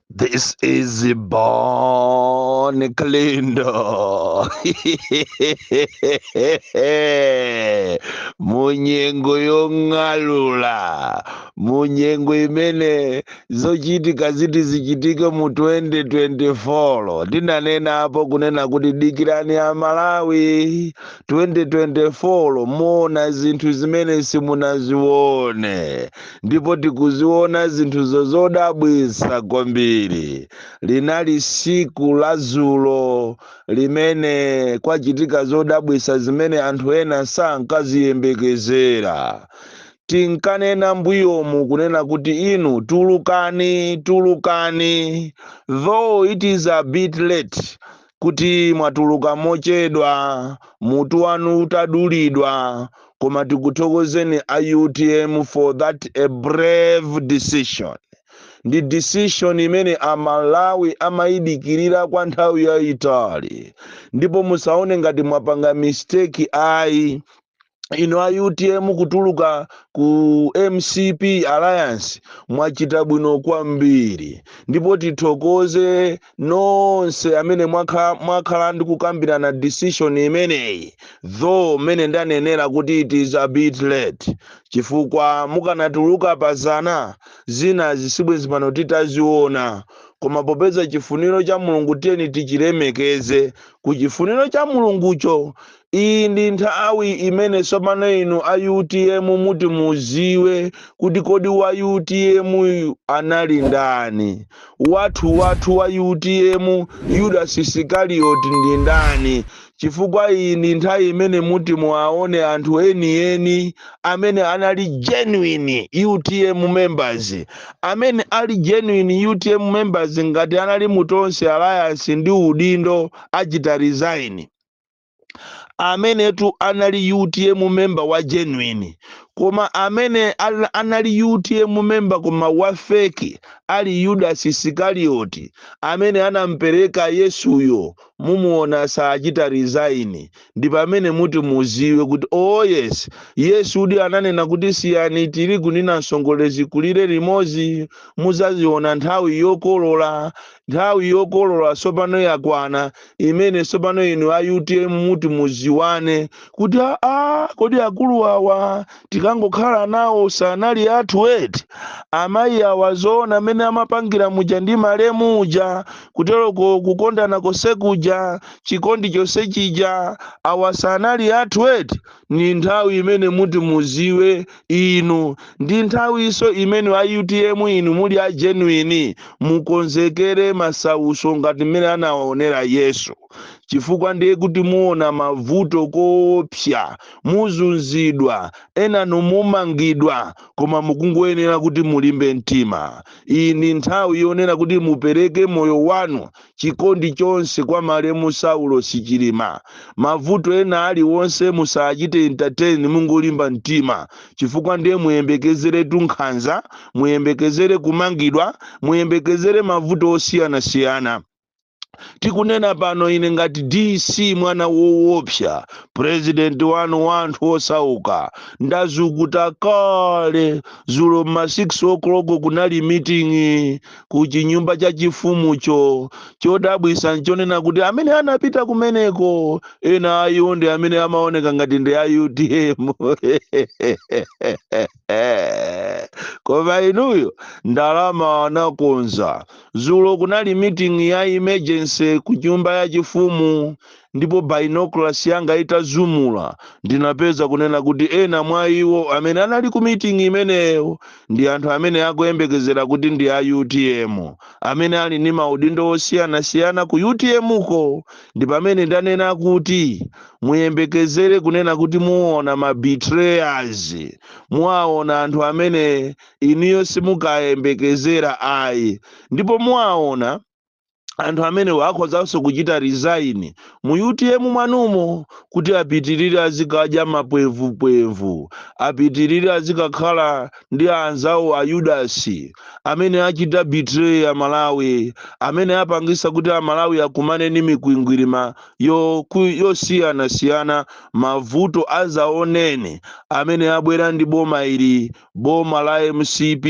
This is Bon Kalindo. munyengo yong'alula munyengo imene zochitika ziti zichitike mu 2024 tinanenapo kunena kuti dikirani a malawi 2024 muona zinthu zimene simunazione ndipo tikuziona zinthuzo zodabwitsa kwambiri linali siku la zulo limene kwachitika zodabwitsa zimene anthu ena sankaziyembekezera tinkanena mbuyomu kunena kuti inu tulukani tulukani though it is a bit late kuti mwatuluka mochedwa mutu wanu utadulidwa koma tikuthokozeni a utm for that a brave decision ndi decision imene amalawi amayidikirira kwa nthawi yayitali ndipo musaone ngati mwapanga mistake ayi inu a utm kutuluka ku mcp alliance mwachita bwino kwambiri ndipo tithokoze nonse amene mwakhala ndikukambirana decision imeneyi though mmene ndanenera kuti it is a bit late chifukwa mukanatuluka pazana zina sibwenzi pano titaziona koma popeza chifuniro cha mulungu tiyeni tichilemekeze ku chifuniro cha mulungucho Iyi ndi nthawi imene tsopano inu a utm muti muziwe kuti kodi wa utm anali ndani. Wathu wathu wa utm Yudas Isikarioti ndi ndani chifukwa iyi ndi nthawi imene muti muwaone anthu eni eni amene anali genuine utm members. Amene ali genuine utm members ngati anali mu Tonse Alliance ndi udindo achita resign. amenetu anali utm member wa genuine koma amene anali utm member koma wa fake ali yudas isikarioti amene anampereka yesuyo mumuona saachita resign ndi pamene muti muziwe kuti oh yes yesu uja ananena kuti siyani tirigu ndi namsongole zikulire limodzi muzaziona nthawi yokolola nthawi yokolola tsopano yakwana imene tsopano inu a utm muti muziwane kuti aa kodi akulu awa tinkangokhala nawo sanali athu eti amayi awa zoona mmene amapangira muja ndi malemu uja kuteroko kukondana konse kuja chikondi chonse chija awa sanali athu eti ni nthawi imene muti muziwe inu ndi nthawinso imene a utm inu muli a genuine mukonzekere masauso ngati mmene anawaonera yesu chifukwa ndiye kuti muona mavuto koopsa muzunzidwa enanu mumangidwa koma mukungoyenera kuti mulimbe mtima iyi ndi nthawi yonena kuti mupereke moyo wanu chikondi chonse kwa malemu Saulosi Chilima. Mavuto ena aliwonse musachite entertain mungolimba mtima chifukwa ndiye muyembekezeretu nkhanza, muyembekezere kumangidwa, muyembekezere mavuto osiyanasiyana. Tikunena pano ine ngati DC mwana woopsa, president wanu wa anthu osauka, ndazumula kale. Dzulo m'ma 6 o'clock kunali meeting ku chinyumba chachifumucho. Chodabwisa nchonena kuti amene anapita kumeneko ena a iwo ndi amene amaoneka ngati ndi a utm koma inuyo ndalama anakonza. Zulo kunali meeting ya emergency ku nyumba yachifumu Ndipo binoculars yanga itazumula, ndinapeza, kunena kuti, ena mwa iwo amene anali ku miting'i imeneyo ndi anthu amene akuyembekezera kuti ndi a utm, amene ali ndi maudindo osiyanasiyana ku utm ko. Ndi pamene ndanena kuti, muyembekezere kunena kuti muona ma betrayers, muaona anthu amene inuyo simukayembekezera ayi. Ndipo muaona. anthu amenewo akhozanso kuchita resign mu utm mwanumo kuti apitirire azikadya mapwevupwevu apitirire azikakhala ndi anzawo a yudasi amene achita betray a malawi amene apangisa kuti a malawi akumane ndi mikwingwirima yosiyanasiyana mavuto azaoneni amene abwera ndi boma ili boma la mcp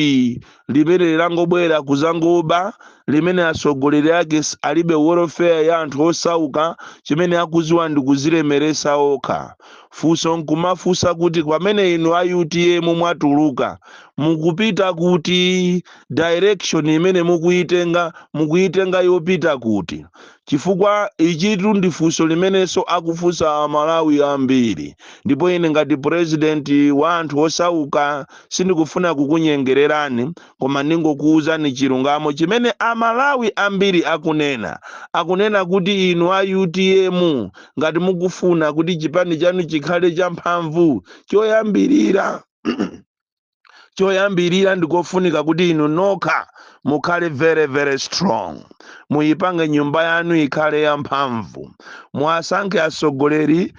limene langobwera kuzangoba limene atsogoleri ake alibe welfare ya anthu osauka chimene akuziwa ndi kuzilemeresa okha funso nkumafunsa kuti pamene inu a utm mwatuluka mukupita kuti direction imene mukuyitenga mukuyitenga yopita kuti Chifukwa ichitu ndi funso limenenso akufunsa a Malawi ambiri. Ndipo ine ngati president wa anthu osauka sindikufuna kukunyengererani koma ndingokuuzani chilungamo chimene a Malawi ambiri akunena. Akunena kuti inu a utm ngati mukufuna kuti chipani chanu chikhale cha mphamvu, choyambirira, choyambirira ndikofunika kuti inu nokha mukhale very very strong muyipange nyumba yanu ikhale yamphamvu muwasankhe atsogoleri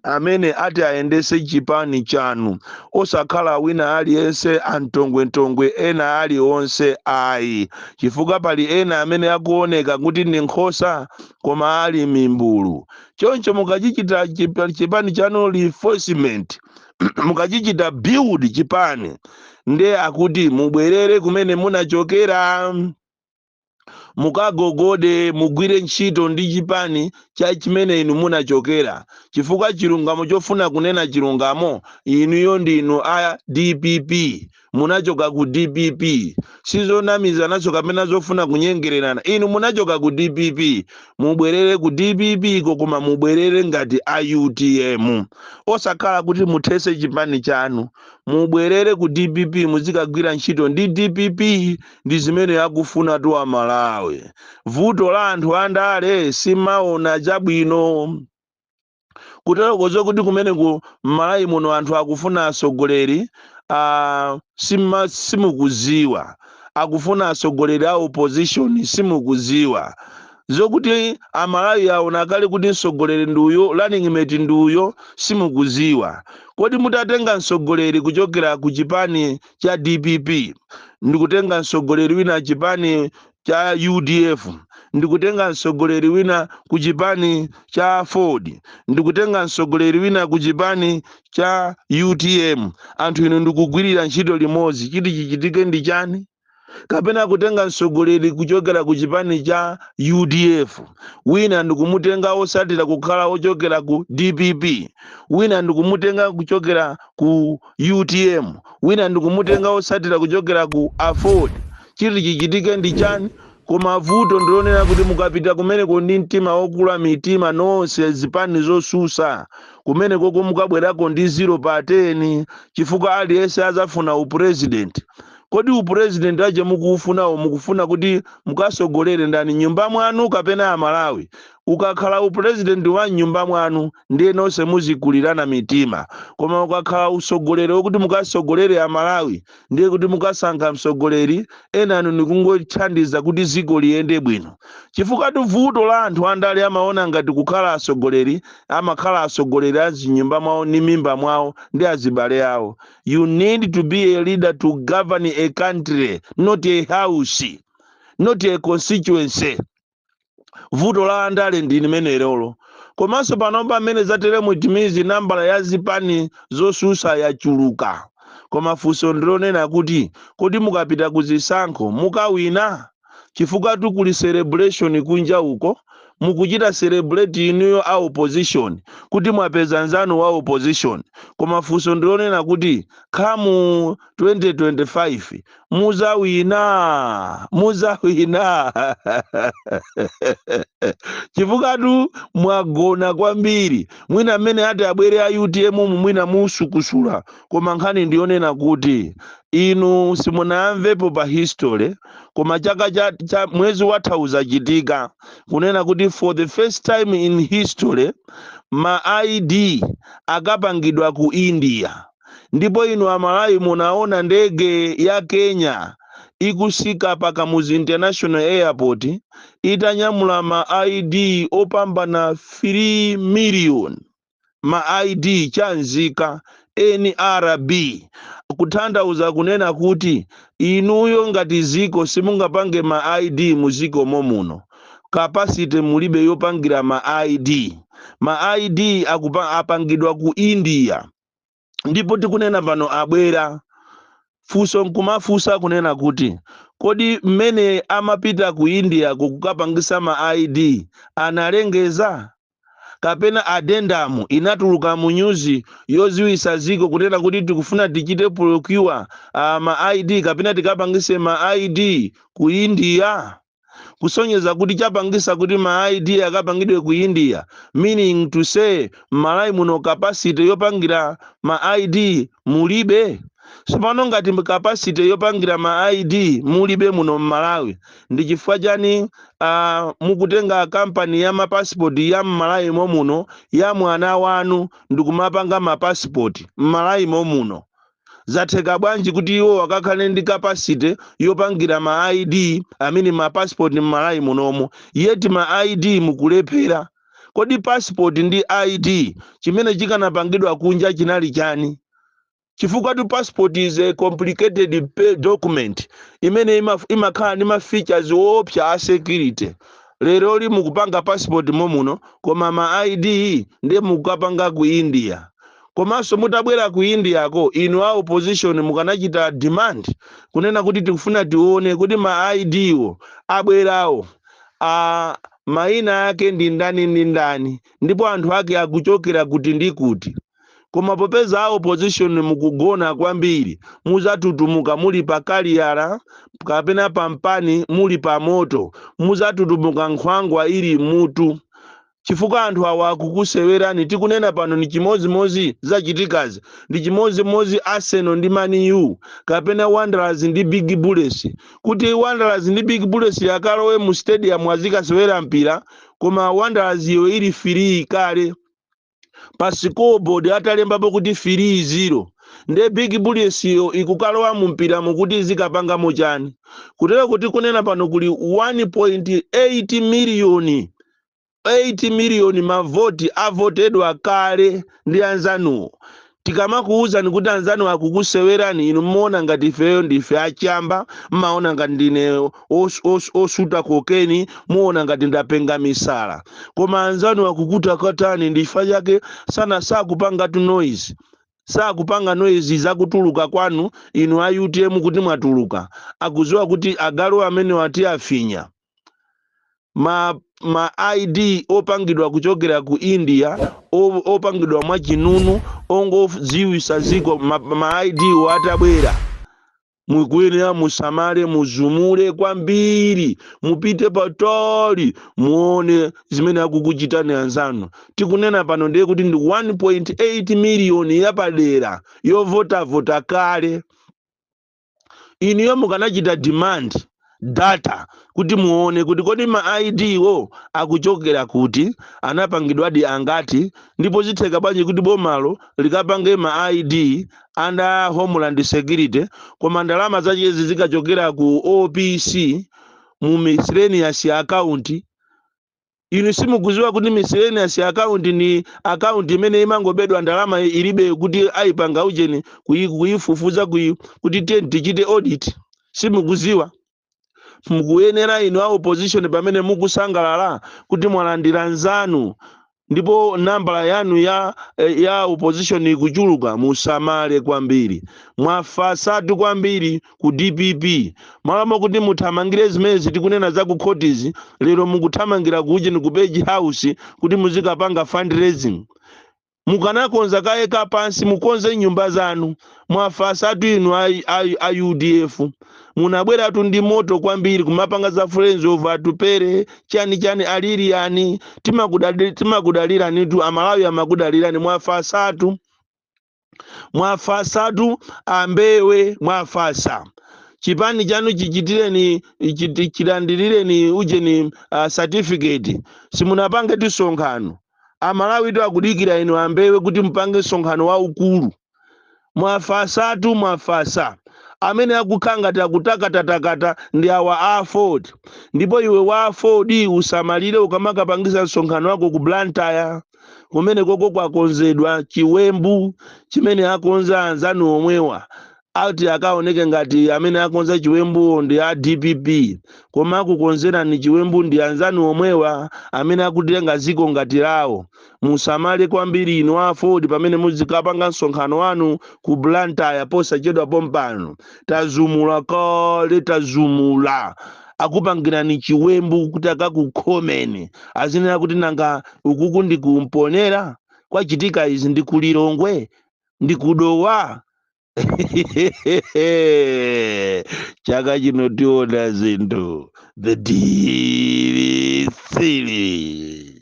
amene ati ayendese chipani chanu osakhala wina aliyense antongwentongwe ena aliwonse ayi chifukwa pali ena amene akuoneka kuti ndi nkhosa koma ali mimbulu choncho mukachichita chipani chanu reinforcement mukachichita build chipani nde akuti mubwerere kumene munachokera mukagogode mugwire ntchito ndi chipani cha chimene inu munachokera chifukwa chilungamo chofuna kunena chilungamo inuyo ndinu a dpp munachoka ku dpp sizonamizananso kapena zofuna kunyengererana inu munachoka ku dpp mubwerere ku dpp-ko koma mubwerere ngati a utm osakhala kuti muthese chipani chanu mubwerere ku dpp muzikagwira ntchito ndi dpp ndi zimene akufunatu amalawi vuto la anthu andale simaona chabwino kuteroko zokuti kumeneku mmalawi muno anthu akufuna atsogoleri a sima- simukuziwa akufuna atsogoleri a opposition simukuziwa zokuti amalawi aona kale kuti mtsogoleri ndi uyo running mate ndi uyo simukuziwa kodi mutatenga mtsogoleri kuchokera ku chipani cha dpp ndikutenga mtsogoleri wina chipani cha udf ndikutenga mtsogoleri wina ku chipani cha aford ndikutenga mtsogoleri wina ku chipani cha utm anthu inu ndikugwirira ntchito limodzi chiti chichitike ndi chani kapena kutenga mtsogoleri kuchokera ku chipani cha udf wina ndikumutenga osatira kukhala ochokera ku dpp wina ndikumutenga kuchokera ku utm wina ndikumutenga osatira kuchokera ku aford Chiti chichitike ndi chani? Koma vuto ndilonena kuti mukapita kumeneko ndi mtima wokula mitima nonse zipani zosusa kumenekoko mukabwerako ndi zero pa teni chifukwa aliyense azafuna u president. Kodi u president ache mukuufunawo mukufuna kuti mukasogolere ndani mnyumba mwanu kapena amalawi? Ukakhala u president wa mnyumba mwanu. ndiye nonse muzikulirana mitima koma ukakhala usogoleri wokuti mukasogolere amalawi ndiye kuti mukasankha msogoleri enanu nikungothandiza kuti ziko liyende bwino chifukwatu vuto la anthu andale amaona ngati kukhala asogoleri amakhala asogoleri azinyumba mwawo ni mimba mwawo ndi azibale awo you need to be a leader to govern a country not a house not a constituency vuto la andale ndi limenelolo komanso panopa mmene zatere mu timizi nambala ya zipani zosusa yachuluka koma funso ndilonena kuti kodi mukapita ku zisankho mukawina chifukwatu kuli celebration kunja uko mukuchita celebrate inuyo a opposition kuti mwapeza nzanu wa opposition koma funso ndilonena kuti come 2025 muzawina muzawina chifukwatu mwagona kwambiri mwina mmene ati abwere a utm mu mwina musukusuka koma nkhani ndiyonena kuti inu simunayamvepo pa history koma chaka cha, cha mwezi watha zachitika kunena kuti for the first time in history ma id akapangidwa ku india ndipo inu amalawi munaona ndege ya kenya ikusika pa kamuzu international airport itanyamula ma id opambana 3 million ma id cha nzika nrb kutanthauza kunena kuti inuyo ngati ziko simungapange ma id muziko momuno capacity mulibe yopangira ma id ma id akupa, apangidwa ku india ndipo tikunena pano abwera funso nkumafunsa kunena kuti kodi mmene amapita ku india kukapangisa ma id analengeza kapena addendum inatuluka mu nyuzi yoziwisa ziko kunena kuti tikufuna tichite procure uh, ma id kapena tikapangise ma id ku india kusonyeza kuti chapangisa kuti ma id akapangidwe ku india meaning to say m'malawi muno capacity yopangira ma id mulibe sopano ngati mb- capacity yopangira ma id mulibe muno m'malawi ndi chifukwa chani uh, mukutenga kampani ya mapasipoti ya m'malawi momuno ya mwana wanu ndikumapanga mapasipoti m'malawi momuno zatheka bwanji kuti iwowo akakhale ndi capacity yopangira ma id i mean ma passport mmalawi munomo yet ma id mukulephera kodi passport ndi id chimene chikanapangidwa kunja chinali chani chifukwatu passport is a complicated pe- document imene ima- imakhala ndi ma features woopsa a security leroli mukupanga passport momuno koma ma id ndiye mukukapanga ku india Komanso mutabwera ku India ko inu a opposition mukanachita demand kunena kuti tikufuna tione kuti ma ID wo abwerawo maina ake ndi ndani ndi ndani ndipo anthu ake akuchokera kuti ndi kuti. Koma popeza a opposition mukugona kwambiri muzatutumuka muli pa kaliyala kapena pa mpani muli pa moto muzatutumuka nkhwangwa ili m'mutu. chifukwa anthu awa akukusewerani tikunena pano ndi chimodzimodzi zachitikazi ndi chimodzimodzi arsenal ndi man u kapena wanderers ndi big bullets kuti wanderers ndi big bullets yakalowe mu stadium azikasewera mpira koma wanderers iyo ili firii kale pa scoreboard atalembapo kuti firii zero nde big bullets iyo ikukalowa mu mpira mukuti izikapangamo chani kutereku tikunena pano kuli 1.8 miliyoni 8 miliyoni mavoti avotedwa kale ndi anzanuwo. Tikamakuwuzani kuti anzanu akukusewerani inu mmaona ngati ifeyo ndife achamba, mmaona ngati ndine os, os, osuta kokeni, muona ngati ndapenga misala. Koma anzanu akukutakatani ndifa chake sana sakupangatu noise. Sakupanga noise zakutuluka kwanu inu a utm kuti mwatuluka. Akudziwa kuti agalu amenewa tiafinya. ma, ma id opangidwa kuchokera ku india o- opangidwa mwa chinunu ongodziwisa ziko ma, ma id wo atabwera mukuyenera musamale muzumule kwambiri mupite patali muone zimene akukuchitirani anzanu tikunena pano ndiye kuti ndi 1.8 miliyoni yapadera yovotavota kale inuyo mukanachita demand data kuti muone kuti kodi ma id wo akuchokera kuti anapangidwadi angati ndipo zitheka bwanji kuti bomalo likapange ma id under homeland security koma ndalama zachezi zikachokera ku opc mu miscellaneous account inu simukuziwa kuti miscellaneous account ni account imene imangobedwa ndalama ilibe kuti ayipanga ujeni kuyi- kuyifufuza kuyi kuti tiye tichite audit simukuziwa mukuyenera inu a opposition pamene mukusangalala kuti mwalandira nzanu ndipo nambala yanu ya eh, ya opposition ikuchuluka musamale kwambiri mwafasatu kwambiri ku dpp m'malo mokuti muthamangire zimene tikunena za ku khotizi lero mukuthamangira ku ujeni ku page house kuti muzikapanga fundraising mukanakonza kaye kapansi mukonze nyumba zanu mwafasatu inu a, a, a udf munabweratu ndi moto kwambiri kumapanga za friends of atupele chani chani aliliyani timakudali- timakudaliranitu amalawi amakudalirani mwafasatu mwafasatu ambewe mwafasa chipani chanu chichitireni chiti- chilandirireni ujeni uh, certificate simunapangetu msonkhano amalawitu akudikira inu ambewe kuti mupange msonkhano waukulu mwafasatu mwafasa amene akukhala ngati akutakataka ndi awa a aford ndipo iwe wa aford usamalire ukamakapangisa msonkhano wako ku blantyre kumene koko kwakonzedwa chiwembu chimene akonza anzanu omwewa ati akaoneke ngati amene akonza chiwembuwo ndi a dpp koma akukonzerani chiwembu ndi anzanu omwewa amene akutenga ziko ngati lawo Musamale kwambiri inu a aford pamene muzikapanga msonkhano wanu ku Blantyre posachedwa pompano. Tazumula kale tazumula. Akupangirani chiwembu kuti akakukhomeni. Azinena kuti nanga ukuku ndi ku Mponela? Kwachitika izi ndi ku Lilongwe? Ndi ku Dowa? Chaka chino tiona zinthu. The deal is sealed.